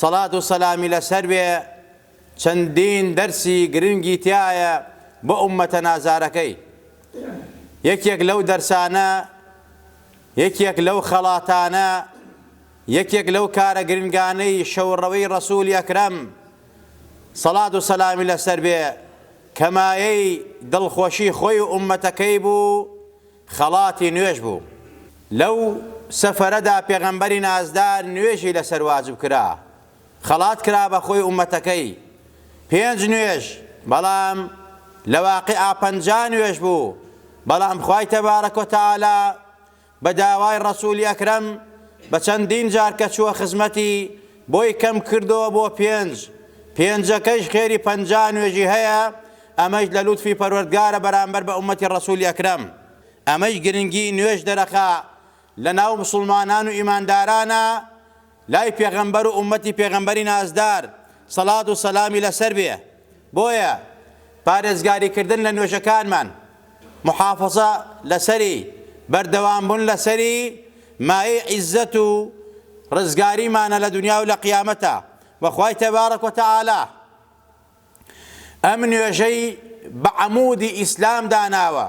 سەڵات و سەلامی لەسەر بێ چەندین دەرسی گرنگی تیایە بۆ ئوممەتە نازارەکەی یەکێک لەو دەرسانە یەکێک لەو خەڵاتانە یەکێک لەو کارە گرنگانەی شەوڕەوەی ڕەسولی ئەکرەم سەڵات و سەلامی لەسەر بێ کەمایەی دڵخۆشی خۆی و ئوممەتەکەی بوو خەڵاتی نوێژ بوو، لەو سەفەرەدا پێغەمبەری نازدار نوێژی لەسەر واجب کرا، خەڵات کرا بە خۆی ئوممەتەکەی، پێنج نوێژ، بەڵام لە واقیعا پەنجا نوێژ بوو، بەڵام خوای تبارک و تعالی بە داوای ڕەسوولی ئەکرەم بە چەندین جار کە چووە خزمەتی بۆی کەم کردووە بۆ پێنج، پێنجەکەیش خێری پەنجا نوێژی هەیە، ئەمەیش لە لوتفی پەروەردگارە بەرامبەر بە ئومەتی ڕەسولی ئەکرەم ئەمەیش گرنگی نوێژ دەرەخا لە ناو مسوڵمانان و ئیماندارانە لای پێغەمبەر و ئومەتی پێغەمبەری نازدار سەڵات و سەلامی لەسەر بێ بۆیە پارێزگاری کردن لە نوێژەکانمان محافەزە لەسەری بەردەوام بوون لەسەری مایەی عیزەت و ڕزگاریمانە لە دونیا و لە قیامەتا وە خوای تبارک و تعالی ئەم نوێژەی بە عەمودی ئیسلام داناوە،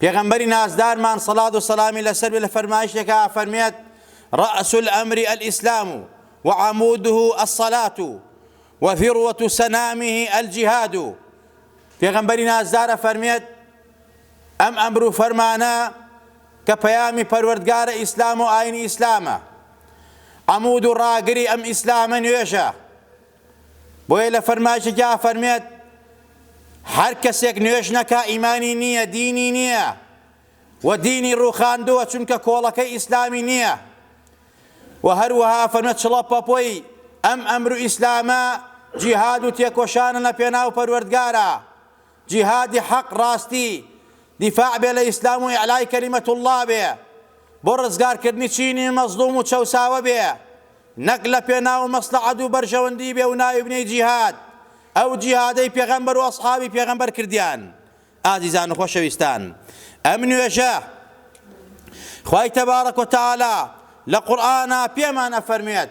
پێغەمبەری نازدارمان سەڵات و سەلامی لەسەر بێ لە فەرمایشتێکا فەرمێت رأس الامر الاسلام وعموده الصلاة وذروة سنامه الجهاد پێغەمبەری نازدار ئەفەرمێت ئەم ئەمر و فەرمانە کە پەیامی پەروەردگارە ئیسلام و ئاینی ئیسلامە عمود و ڕاگری ئەم ئیسلامە نوێژە بۆیە لە فەرمایشێکیا ئەفەرمێت، هەر کەسێک نوێژ نەکا ئیمانی نییە، دینی نییە و دینی ڕووخاندووە چونکە کۆڵەکەی ئیسلامی نییە. و هەروەها ئەفەرمێت چڵە پەپۆی ئەم ئەمر و ئیسلامە جیهاد و تێکۆشانە لە پێناو پەروەردگارا، جیهادی حەق ڕاستی دیفاع بێ لە ئیسلام و ئیعلای کەلیمەت اللە بێ بۆ ڕزگار کردنی چینی مەزڵوم و چەوساوە بێ نەک لە پێناو مەسڵەحەت و بەرژەوەندی بێ و ناوی بنێی جیهاد ئەو جیهادەی پێغەمبەر و ئەسحابی پێغەمبەر کردیان ئازیزان و خۆشەویستان ئەم نوێژە خوای تبارک و تعالی لە قورئانا پێمان ئەفەرموێت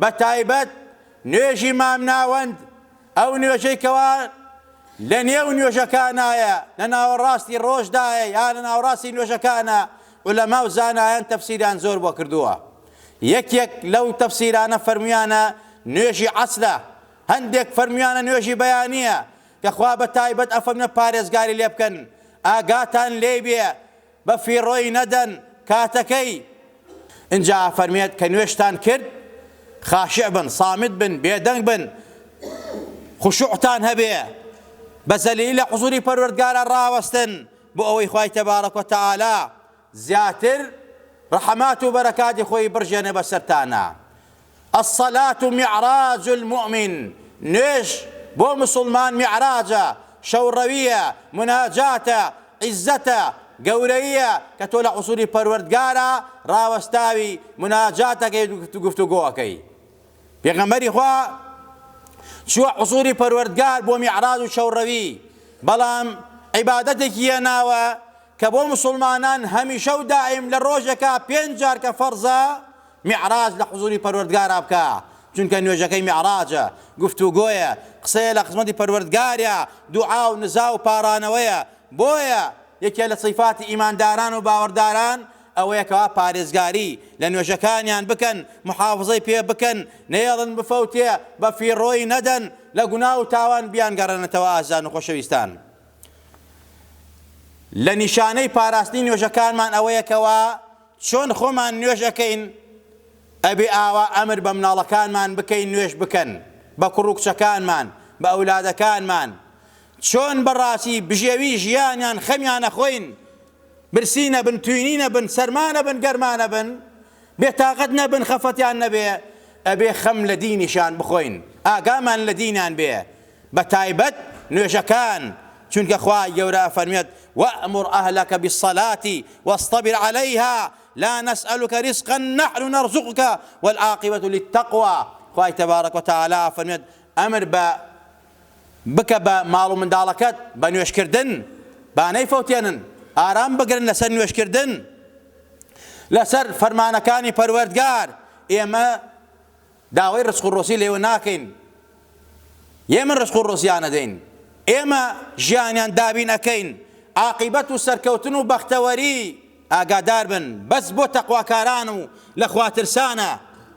بە تایبەت نوێژی مامناوەند، ئەو نوێژەی کەوا لە نێو نوێژەکانایە، لە ناوەڕاستی ڕۆژدایە یا لە ناوەڕاستی نوێژەکانە، عولەما و زانایان تەفسیریان زۆر بۆ کردووە. یەکێک لەو تەفسیرانە فەرموویانە نوێژی عەسرە، هەندێک فەرموویانە نوێژی بەیانییە، کە خوا بە تایبەت ئەفەرموێ پارێزگاری لێ بکەن، ئاگاتان لێی بێ، بە فیڕۆی نەدەن کاتەکەی ئنجا ئەفەرمێت کە نوێژتان کرد خاشع بن صامت بن بێدەنگ بن خشوعتان هەبێ بە زەلیلی لە حزوری پەروەردگاران ڕاوەستن بۆ ئەوەی خوای تەبارەک و تەعالا زیاتر ڕەحمات و بەرەکاتی خۆی بڕژێنێ بەسەرتانا الصلاة معراج المومن، نوێژ بۆ موسڵمان میعراجە، شەوڕەوییە، موناجاتە، عیززەتە، گەورەییە کە تۆ لە حوزووری پەروەردگارا ڕاوەستاوی، موناجات ئەکەیت و گفتوگۆ ئەکەی. پێغەمبەری خوا چووە حوزووری پەروەردگار بۆ میعراج و شەوڕەوی، بەڵام عیبادەتێکی هێناوە کە بۆ موسڵمانان هەمیشە و دائیم لە ڕۆژێکا پێنج جار کە فەرزە، میعراج لە حزوری پەروەردگارا بکا، چونکە نوێژەکەی میعراجە، گفتوگۆیە، قسەیە لە خزمەتی پەروەردگاریا، دوعا و نزا و پاڕانەوەیە، بۆیە یەکێ لە سیفاتی ئیمانداران و باوەڕداران ئەوەیە کەوا پارێزگاری لە نوێژەکانیان بکەن، محافزەی پێ بکەن، نەیەڵن بفەوتێ، بە فیڕۆی نەدەن، لە گوناه و تاوان بیانگەڕێنێتەوە ئازیزان و خۆشەویستان لە نیشانەی پاراستنی نوێژەکانمان ئەوەیە کەوا. چۆن خۆمان نوێژ ئەکەین ئەبێ ئاوا ئەمر بە مناڵەکانمان بکەین نوێژ بکەن بە کوڕو کچەکانمان بە ئەولادەکانمان چۆن بە ڕاسی بژێوی ژیانیان خەمیان نەخۆین برسی نەبن توینی نەبن سەرما نەبن گەرما نەبن بێ تاقەت نەبن خەفەتیان نەبێ ئەبێ خەم لە دینیشان بخۆین ئاگامان لە دینان بێ بە تایبەت نوێژەکان، چونکە خوای گەورە ئەفەرموێت، وامر اهلک بالصلاة واصطبر علیها لا نسالک رزقا نحن نرزقک والعاقبة للتقوی، خوای تبارک و تعالی ئەفەرموێت، ئەمر بە بکە بە ماڵ و منداڵەکەت بە نوێژکردن، با نەیفەوتێنن، ئارام بگرن لەسەر نوێژکردن لەسەر فەرمانەکانی پەروەردگار، ئێمە داوای ڕزق و ڕۆزی لێوە ناکەین ئێمە ڕزق و ڕۆزیان ئەدەین ئێمە ژیانیان دابین ئەکەین عاقیبەت و سەرکەوتن و بەختەوەری ئاگادار بن بەس بۆ تەقواکاران و لە خوا ترسانە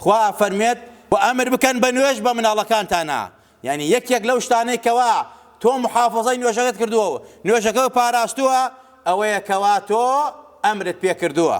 خوا ئەفەرموێت و ئەمر بکەن بە نوێژ بە مناڵەکانتانا یانی یەکێک لەو شتانەی کەوا تۆ محافظەی نوێژەکەت کردووە و نوێژەکە پاراستووە ئەوەیە کەوا تۆ ئەمرت پێ کردووە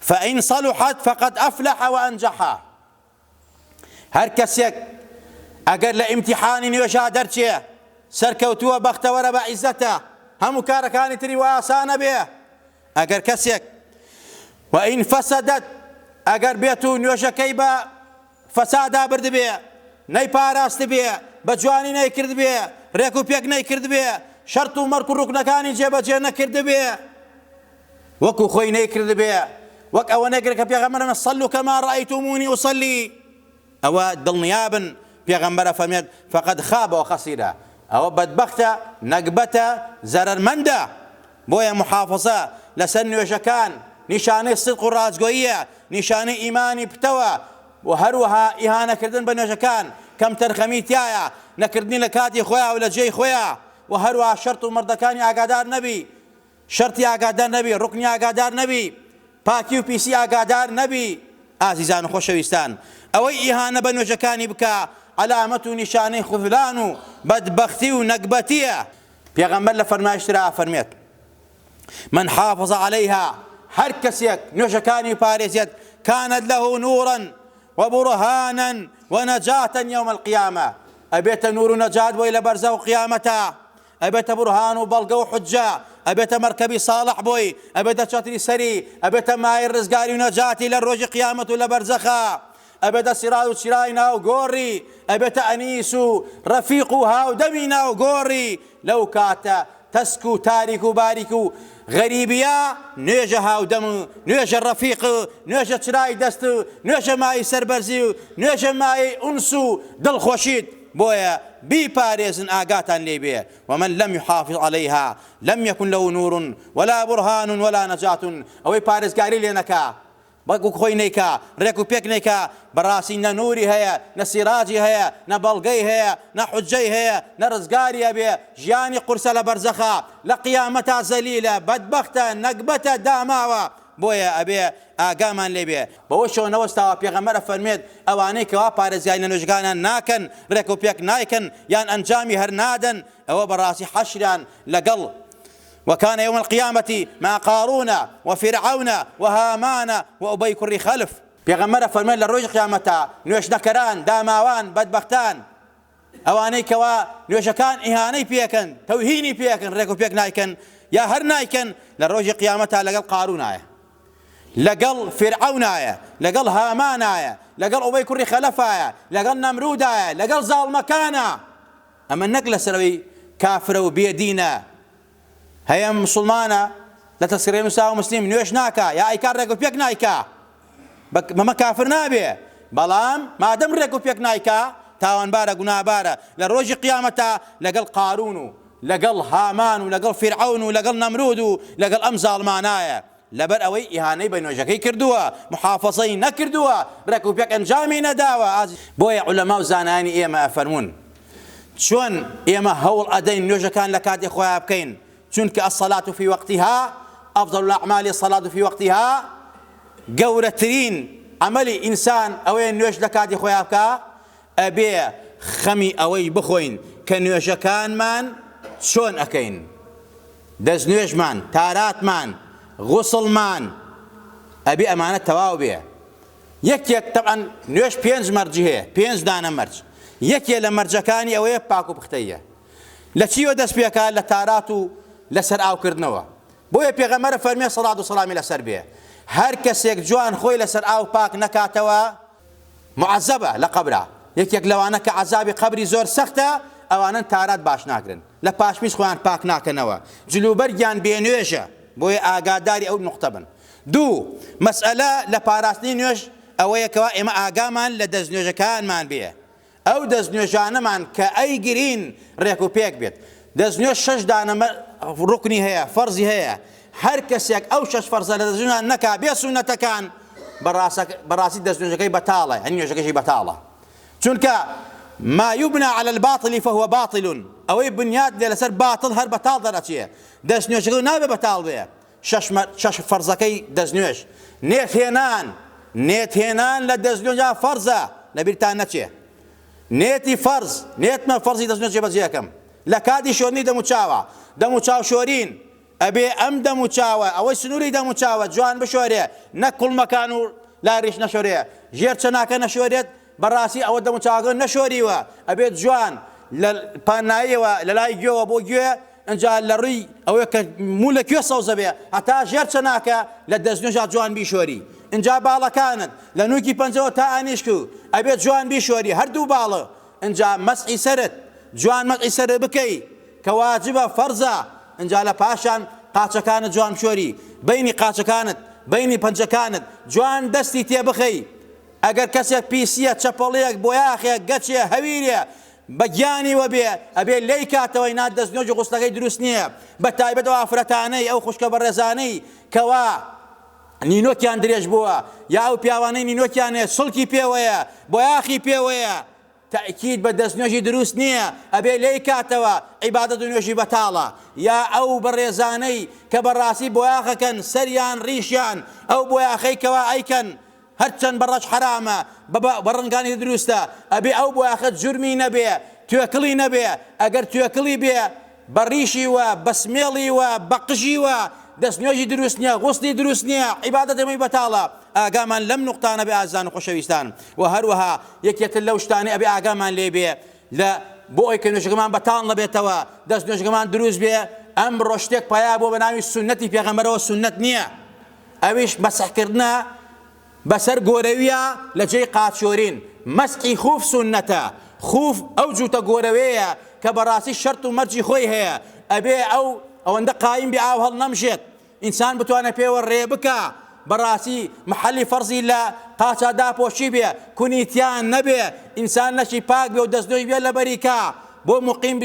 فان صلحت فقد افلح وانجح هەر کەسێک ئەگەر لە ئیمتیحانی نوێژا دەرچێ سەرکەوتووە بەختەوەرە بە عیزەتە هەموو کارەکانی تری وە ئاسانە بێ ئەگەر کەسێک وان فسدت ئەگەر بێت و نوێژەکەی بە فەسادا بردبێ، نەیپاراستبێ، بە جوانی نەیکردبێ، رێک و پێک نەیکردبێ، شەرت و مەرک و روکنەکانی جێ بە جێ نەکردبێ، وەکو خۆی نەیکردبێ، وەک ئەوە نەیکردبێ کە پێغەمبەر فەرموێت، صلوا کما رأیتمونی اصلی، ئەوە دڵنیا بن پێغەمبەر ئەفەرموێت، فقد خاب وخسر، ئەوە بەدبەختە، نەگبەتە، زەرەرمەندە. بۆیە موحافەزە لەسەر نوێژەکان نیشانەی سدق و ڕاستگۆییە، نیشانەی ئیمانی پتەوە، و هەروەها ئیهانەکردن بە نوێژەکان، کەمتەرخەمی تیایە، نەکردنی لە کاتی خۆیا و لە جێی خۆیا، و هەروەها شەرت و مەردەکانی ئاگادار نەبی، شەرتی ئاگادار نەبی، ڕوکنی ئاگادار نەبی، پاکی و پیسی ئاگادار نەبی. ئازیزان و خۆشەویستان، ئەوەی ئیهانە بە نوێژەکانی بکا عەلامەت و نیشانەی خوذلان و بەدبەختی و نەگبەتیە، پێغەمبەر لە فەرمایشت ترا ئەفەرمێت، من حافظ علیها، هەر کەسێک نوێژەکانی پارێزێت، کانت له نورا و برهانا و نجاتا یوم القیامە، ئەبێتە نور و نەجات بۆی لە بەرزەخ و قیامەتا، ئەبێتە برهان و بەڵگە و حوججە، ئەبێتە مەرکەبی ساڵح بۆی، ئەبێتە چەتری سەری، ئەبێتە مایەی ڕزگاری و نەجاتی لە ڕۆژی قیامەت و لە بەرزەخا. ئەبێتە سیراج و چرای ناو گۆڕی، ئەبێتە ئەنیس و ڕەفیق و هاودەمی ناو گۆڕی، لەو کاتە تەسک و تاریک و باریک و غەریبیە، نوێژە هاودەم و نوێژە ڕەفیق و نوێژە چرای دەست و نوێژە مایەی سەربەرزی و نوێژە مایەی ئونس و دڵخۆشیت، بۆیە بیپارێزن ئاگاتان لێی بێ، ومن لم یحافظ علیها لم یکن له نور ولا برهان ولا نجاة، ئەوەی پارێزگاری لێ نەکا بەڵکو خۆی نەیکا، رێک و پێک نەیکا، بەڕاستی نە نوری هەیە، نە سیراجی هەیە، نە بەڵگەی هەیە، نە حوججەی هەیە، نە رزگاری ئەبێ، ژیانی قورسە لە بەرزەخا، لە قیامەتا زەلیلە، بەدبەختە، نەگبەتە، داماوە، بۆیە ئەبێ ئاگامان لێ بێ. بەوە شێوەنە وەستاوە پێغەمبەر ئەفەرموێت، ئەوانەی کەوا پارێزگاری لە نوێژەکانیان ناکەن، رێک و پێک نایکەن، یان ئەنجامی هەر نادەن، ئەوە بەڕاستی حەشریان لەگەڵ، وکان یوم القیامە مع قارون وفرعون وهامان وابی کوڕی خلف. پێغەمبەر ئەفەرموێت لە ڕۆژی قیامەتا نوێژ نەکەران، داماوان، بەدبەختان، ئەوانەی کەوا نوێژەکان ئیهانەی پێ ئەکەن، تەوهینی پێ ئەکەن، ڕێک و پێک نایکەن، یا هەر نایکەن، لە ڕۆژی قیامەتا لەگەڵ قارونایە، لەگەڵ فیرعەونایە، لەگەڵ هامانایە، لەگەڵ ئوبەی کوڕی خەلەفایە، لەگەڵ نەمرودایە، لەگەڵ زاڵمەکانە. ئەمە نەک لەسەر ئەوەی کافرە و بێ دینە هەیە مسوڵمانە لە تەسکرەی نوساوە مسلیم نوێژ ناکا یا ئەیکا ڕێک و پێک نایکا بەمە کافر نابێ بەڵام مادەم ڕێک و پێک نایکا تاوانبارە گونابارە لە ڕۆژی قیامەتا لەگەڵ قارون و لەگەڵ هامان و لەگەڵ فیرعەون و لەگەڵ نەمرود و لەگەڵ ئەم زاڵمانایە لەبەر ئەوەی ئیهانەی بە نوێژەکەی کردووە، محافەزەی نەکردووە، رێک و پێک ئەنجامی نەداوە، بۆیە عولەما و زانایانی ئێمە ئەفەرموون، چۆن ئێمە هەوڵ ئەدەین نوێژەکان لە کاتی خۆیان بکەین، چونکە الصلاة فی وقتها افضل الاعمال الصلاة فی وقتها گەورەترین عەمەلی ئینسان ئەوەیە نوێژ لە کاتی خۆیان بکا، ئەبێ خەمی ئەوەی بخۆین کە نوێژەکانمان چۆن ئەکەین، دەستنوێژمان، تاراتمان، غوسڵمان، ئەبێ ئەمانە تەواو بێ، یەکێک، تەبعەن نوێژ پێنج مەرجی هەیە، پێنج دانە مەرج، یەکێ لە مەرجەکانی ئەوەیە پاک و پختەییە، لە چیوە دەست پێکا، لە تارات و لە سەر ئاو کردنەوە، بۆیە پێغەمبەر ئەفەرموێ سەڵات و سەڵامی لەسەر بێ، هەر کەسێک جوان خۆی لەسەر ئاو پاک نەکاتەوە، معەزەبە لە قەبرا یەکێک لەوانە کە عەزابی قەبری زۆر سەختە ئەوانەن تارات باش ناکرن لە پاشمیز خۆیان پاک ناکەنەوە جل و بەرگیان بێ نوێژە بۆیە ئاگاداری ئەو نوقتە بن دوو مەسئەلە لە پاراستنی نوێژ ئەوەیە کەوا ئێمە ئاگامان لە دەست نوێژەکانمان بێ ئەو دەست نوێژانەمان کە ئەیگرین ڕێک و پێک بێت. دەست نوێژ شەش دانە ڕوکنی هەیە، فەرزی هەیە، هەر کەسێک ئەو شەش فەرزە لە دەست نوێژمان نەکا بێ سوننەتەکان بەڕاستی دەست نوێژەکەی بەتاڵە یانی نوێژەکەشی بەتاڵە چونکە ما یبنا علی الباطل فهو باطل ئەوەی بنیات لێ لەسەر باتڵ هەر بەتاڵ دەرئەچێ دەست نوێژەکە نابێ بەتاڵ بێ شەش فەرزەکەی دەستنوێژ، نێتهێنان، نێتهێنان لە دەستنوێژا فەرزە، لەبیرتان نەچێ نێتی فەرز، نێتمە فەرزی دەستنوێژ جێبەجێ ئەکەم لە کاتی شۆرینی دەموچاوە، دەموچاو شۆرین، ئەبێ ئەم دەموچاوە ئەوەی سنووری دەموچاوە جوان بشۆرێ، نەک کوڵمەکان و لای ڕیش نەشۆرێ، ژێر چەناکە نەشۆرێت، بەڕاستی ئەوە دەم و چاوەکەم نەشۆریوە ئەبێت جوان لە پاناییەوە لە لای گوێوە بۆ گوێ ئەجا لە ڕوی ئەوەی کە موو لە کوێ سەوزە بێ هەتا ژێر چەناکە لە دەستنوێژا جوان بیشۆری ئەجا باڵەکانت لە نوکی پەنجەوە تا ئانیشک و ئەبێت جوان بیشۆری هەردوو باڵە ئەجا مەسحی سەرت جوان مەسحی سەرت بکەی کە واجبە فەرزە ئەجا لە پاشان قاچەکانت جوان بشۆری بەینی قاچەکانت بەینی پەنجەکانت جوان دەستی تێ بخەی ئەگەر کەسێ پیسیە چەپەڵیەک بۆیاخێ گەچێ هەویرێ بە گیانی وە بێ ئەبێ لێی کاتەوە ئینا دەسنوێژی غوسلەکەی دروست نیە بە تایبەت ئەو ئافرەتانەی ئەو خوشکە بەڕێزانەی کەوا نینۆکیان درێژ بووە یا ئەو پیاوانەی نینۆکیان هەیە سڵکی پێوەیە بۆیاخی پێوەیە تەئکید بە دەست نوێژی دروست نیە ئەبێ لێی کاتەوە عیبادەت و نوێژی بەتاڵە یا ئەو بەڕێزانەی کە بەڕاستی بۆیاخەکەن سەریان ڕیشیان ئەو بۆیاخەی کەوا ئەیکەن هەرچەن بە ڕەش حەرامە بە بە ڕەنگانی دروستە ئەبێ ئەو بۆیاخە جورمی نەبێ توێکڵی نەبێ ئەگەر توێکڵی بێ بە ڕیشی وە بە سمێڵی وە بە قژی وە دەست نوێژی دروست نیە غوسلی دروست نیە عیبادەت هەمووی بەتاڵە ئاگامان لەم نوقتانە بێ ئازان و خۆشەویستان وە هەروەها یەکێتر لەو شتانەی ئەبێ ئاگامان لێ بێ لە بۆ ئەوەی کە نوێژەکەمان بەتاڵ نەبێتەوە دەست نوێژەکەمان دروست بێ ئەمڕۆ شتێک پەیا بووە بە ناوی سوننەتی پێغەمبەرەوە سوننەت نیە ئەویش مەسحکردنە بەسەر گۆرەویە لە جێی قاچۆرین، مەسحی خوف سوننەتە، خوف ئەو جووتە گۆرەوێیە کە بەڕاستی شەرت و مەرجی خۆی هەیە، ئەبێ ئەو ئەوەندە قایم بێ ئاو هەڵنەمژێت ئینسان بتوانێت پێوە رێ بکا بەڕاستی محەلی فەرزی لە قاچا داپۆشی بێ کونی تیا نەبێ ئینسان لەشی پاک بێ و دەستنوێژ بێ لەبەری کا بۆ موقیم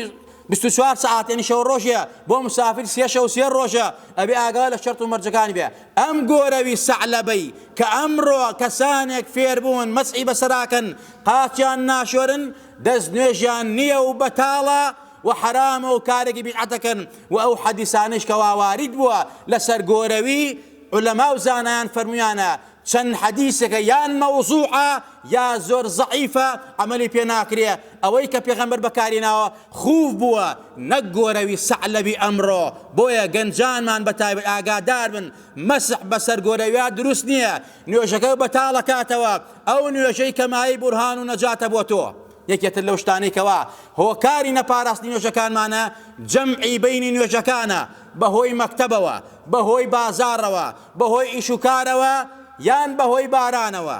بیست و چوار سەعات یەنی شەو رۆژێ بۆ مسافر سێ شەو سێ رۆژە ئەبێ ئاگا لە شەرت و مەرجەکانی بێ ئەم گۆرەوی سەعلەبەی کە ئەمڕۆ کەسانێک فێربوون مەسحی بەسەراکەن قاچیان ناشۆرن دەست نوێژیان نیە و بەتاڵە و حەرامە و کارێکی بیدعەتەکەن و ئەو حەدیسانەیش کەوا وارید بووە لەسەر گۆرەوی عولەما و زانایان فەرموویانە چەند حەدیسەکە یان مەوزوعە یا زۆر زەعیفە عەمەلی پێ ناکرێ ئەوەی کە پێغەمبەر بەکاری ناوە خوف بووە نەک گۆرەوی سەعلەبی ئەمڕۆ، بۆیە گەنجانمان بە تایبەت ئاگادار بن مەسح بەسەر گۆرەویا دروست نییە نوێژەکە بەتاڵ ئەکاتەوە، ئەو نوێژەی کە مایەی بورهان و نەجاتە بۆ تۆ. یەکێتر لەو شتانەی کەوا هۆکاری نەپاراستنی نوێژەکانمانە جەمعی بەینی نوێژەکانە بە هۆی مەکتەبەوە، بە هۆی بازاڕەوە، بە هۆی ئیش و کارەوە یان بە هۆی بارانەوە،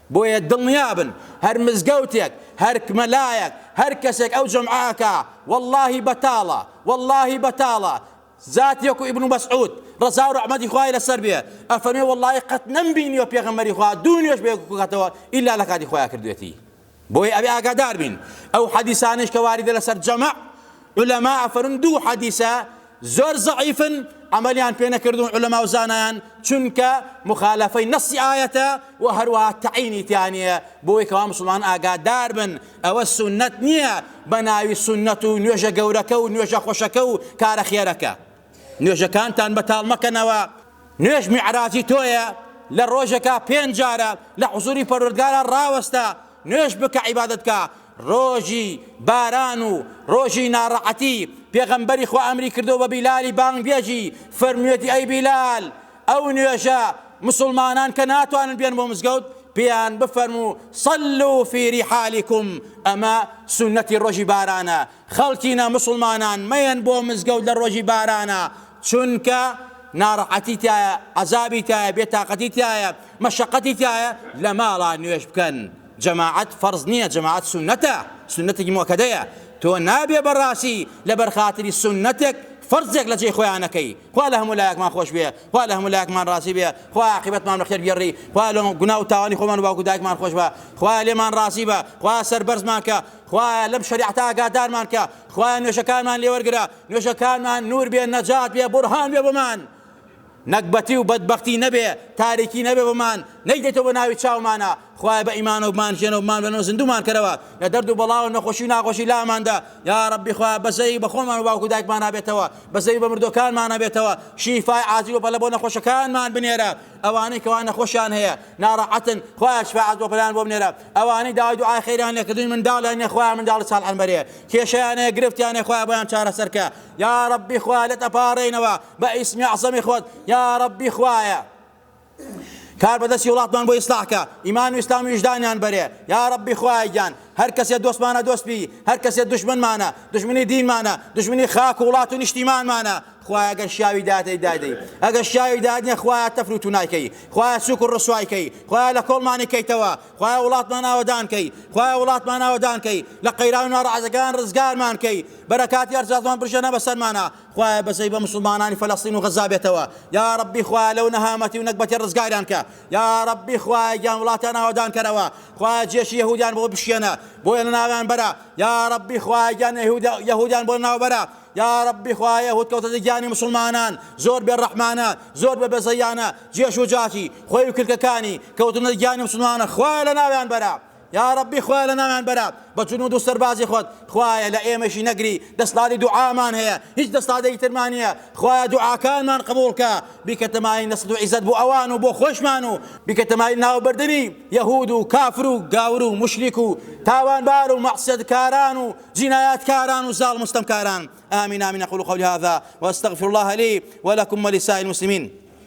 بۆیە دڵنیابن هەر مزگەوتێک هەر مەلایەک هەر کەسێک ئەو جەمعە ئەکا وەڵاهی بەتاڵە وەڵاهی بەتاڵە زاتی وەکو ابن مسعود ڕەزا و ڕەحمەتی خوای لەسەر بێ ئەفەرمێ وەڵاهی قەت نەمبینیوە پێغەمبەری خوا دوو نوێژ بێ بکاتەوە ئیلا لە کاتی خۆیان کردوێتی بۆیە ئەبێ ئاگادار بین ئەو حەدیسانەیش کە واریدە لەسەر جەمع عولەما ئەفەرموون دوو حەدیسە زۆر زەعیفن عەمەلیان پێ نەکردوون عولەما و زانایان چونکە مخالفەی نەسی ئایەتە و هەروەها تەعینی تیانە بۆی کەوا مسلمان ئاگادار بن ئەوە سونەت نییە بە ناوی سونەت و نوێژە گەورەکە و نوێژە خۆشەکە و کارە خێرەکە نوێژەکانتان بەتاڵ مەکەنەوە، نوێژ میعراجی تۆیە، لە ڕۆژێکا پێنج جارە لە حزووری پەروەردگارا ڕاوەستە، نوێژ بکە عیبادەت بکە، ڕۆژی باران و ڕۆژی ناڕەحەتی پێغەمبەری خوا ئەمری کردووە بە بیلالی بانگبێژی فەرموویەتی ئەی بیلال ئەو نوێژە مسوڵمانان کە ناتوانن بێن بۆ مزگەوت پێیان بفەرموو صلوا فی رحالکم ئەمە سوننەتی ڕۆژی بارانە خەڵکی نا موسڵمانان مەیەن بۆ مزگەوت لە ڕۆژی بارانا چونکە ناڕەحەتی تایە عەزابی تایە بێ تاقەتی تایە مەشەقەتی تایە لە ماڵا نوێژ بکەن جەماعەت فەرز نییە جەماعەت سونەتە سونەتێکی مۆکەدەیە تۆ نابێ بەڕاستی لەبەر خاتری سونەتێک فەرزێک لە جێی خۆیانەکەی خوا لە هەموو لایەکمان خۆش بێ خوا لە هەموو لایەکمان ڕازی بێ خوا عاقبەتمان بەخێر بگێڕی خوا لە گونا و تاوانی خۆمان و باوک و دایکمان خۆش بە خوا لێمان ڕازی بە خوا سەربەرزمان کە خوایە لەم شەریعەتە ئاگادارمان کە خوایە نوێژەکانمان لێ وەرگرە نوێژەکانمان نور بێ نەجات بێ بورهان بێ بۆمان نەگبەتی و بەدبەختی نەبێ تاریکی نەبێ بۆمان نەیدێتەوە بە ناوی چاومانە خوای بە ئیمانەوە بمان ژێنە و بمان بەنەوە زیندومان کەرەوە لە دەرد و بەڵا و نەخۆشی و ناخۆشی لاماندا یا ربی خوای بەزەی بە خۆمان و باوک و دایکمان نابێتەوە بەزەی بە مردوەکانمان نابێتەوە شیفای عاجل و پەلە بۆ نەخۆشەکانمان بنێرە ئەوانەی کەوا نەخۆشیان هەیە ناڕەحەتن خوایە شفاعەت بۆ پەلان بۆ بنێرە ئەوانەی داوای دوعای خێریان لێ کردووی منداڵیان نیە خوایە منداڵی ساڵحیان بەرێ کێشەیان هەیە گرفتیان هەیە خوایە بۆیان چارەسەر کە یاڕەبی خوایە لێت ئەپاڕێینەوە بە ئیسمی عەزەمی خۆت یاڕەبی خوایە کار بەدەستی وڵاتمان بۆ ئیسلاحکە ئیمان و ئیسلام و ویژدانیان بەرێ یا ڕەبی خوایگیان هەر کەسێ دۆستمانە دۆستبی هەر کەسێ دشمنمانە دشمنی دینمانە دشمنی خاک و وڵات و نیشتیمانمانە خوایە گەر شیاوی دادەی دادەی ئەگەر شیاوی دادنیە خوایە تەفر و تونایکەی خوایە سوک و ڕسوایکەی خوایە لە کۆڵمانی کەیتەوە خوایە وڵاتمان ئاوەدانکەی خوایە وڵاتمان ئاوەدانکەی لە قەیران ناڕەحەتەکان ڕزگارمان کەی بەرەکاتی ئەرزازمان بژەنە بەسەرمانە خوایە بەزەی بە مسلمانانی فەلەستین و غەزا بێتەوە یا ڕبی خوایە لەو نەهامەتی و نەگبەتی ڕزگاریان کە یا ڕبی خوایە گیان وڵاتان ئاوەدان کەرەوە خوایە جێشی یهودیان بۆ بشکێنە بۆیە لە ناویان بەرە یا ڕبی خوایە گیان یهودیان بۆ ناوبەرە یاڕەبی خوایە هوت کەوتە دە گیانی مسوڵمانان زۆر بێ ڕەحمانە زۆر بە بەزەیانە جێش و جاتی خۆی و کلکەکانی کەوتنە دە گیانی مسلمانە خوایە لە ناویان بەرە یاڕەبی خوایە لە ناویان بەرە بە جنود و سەربازی خۆت خوایە لە ئێمەشی نەگری دەستڵاتی دوعامان هەیە هیچ دەستڵاتێکی ترمان نییە خوایە دوعاکانمان قبولکە بیکە تەمای نەسد و عیزەت بۆ ئەوان و بۆ خۆشمان و بیکە تەمای ناوبردنی یەهود و کافر و گاور و مشریک و تاوانبار و مەعسیەتکاران و جینایەتکاران و زاڵم و ستەمکاران آمین آمین اقول قولی هذا واستغفر الله لی ولکم ولسائر المسلمین.